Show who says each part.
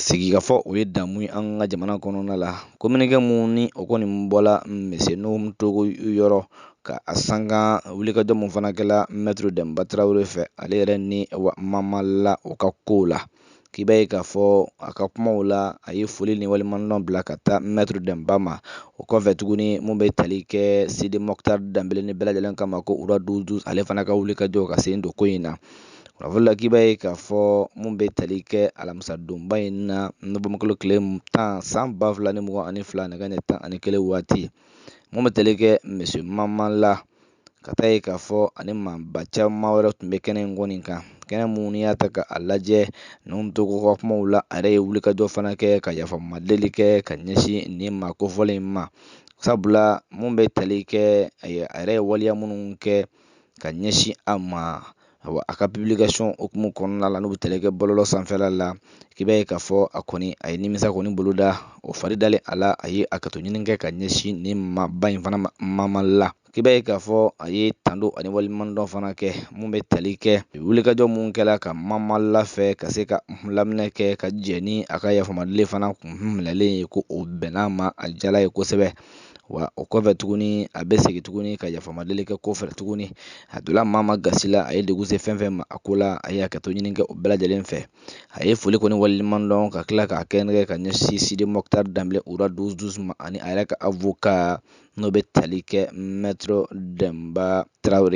Speaker 1: sigikafɔ o ye damu ye an ka jamana kɔnɔna la kominikɛ mun ni o kɔni bɔla misiye nuhum togo yɔrɔ ka a sanga wulikajɔ mun fana kɛla mɛtiri dɛmba tarawele fɛ ale yɛrɛ ni mamala o ka kow la k'i b'a ye k'a fɔ a ka kumaw la a ye foli ni waleɲumandɔn bila ka taa mɛtiri dɛmba ma o kɔfɛ tuguni mun bɛ tali kɛ sidi mɔkutari danbele ni bɛɛ lajɛlen k'a ma ko roi douze douze ale fana ka wulikajɔ ka sen don ko in na kunnafoni la k'i b'a ye k'a fɔ mun bɛ tali kɛ alamisa donba in na nowanburukalo tile tan san ba fila ni mugan ani fila nɛgɛ ɲɛ tan ani kelen waati mun bɛ tali kɛ misiye mamala ka taa ye k'a fɔ ani maaba caman wɛrɛ tun bɛ kɛnɛ in kɔni kan kɛnɛ mun n'i y'a ta k'a lajɛ nuhum togo ka kumaw la a yɛrɛ ye wulikajɔ fana kɛ ka yafamadeli kɛ ka ɲɛsin nin maa kofɔlen in ma sabula mun bɛ tali kɛ a yɛrɛ ye waleya minnu kɛ ka ɲɛsin a ma awa a ka publication hukumu kɔnɔna la n'u bɛ tali kɛ bɔlɔlɔ sanfɛla la k'i b'a ye k'a fɔ a kɔni a ye nimisa kɔni bolo da o fari dalen a la a ye hakɛto ɲini kɛ ka ɲɛsin nin maaba in fana ma mamala k'i b'a ye k'a fɔ a ye tando ani waleɲumandɔn fana kɛ mun bɛ tali kɛ wulikajɔ mun kɛla ka mamala fɛ ka se ka laminɛ kɛ ka jɛ ni a ka yafamadeli fana kun minɛlen ye ko o bɛnna a ma a diyala a ye kosɛbɛ wa o kɔfɛ tuguni a bɛ segin tuguni ka yafamadeli kɛ ko fɛ tuguni a donna maa maa gasi la a ye degun se fɛn fɛn ma a ko la a ye hakɛto ɲini kɛ o bɛɛ lajɛlen fɛ a ye foli kɔni waleɲumandɔn ka tila k'a kɛrɛnkɛ ka ɲɛsin sidi mɔkutari danbele roi douze douze ma ani a yɛrɛ ka avoka n'o bɛ tali kɛ mɛtiri dɛmba tarawele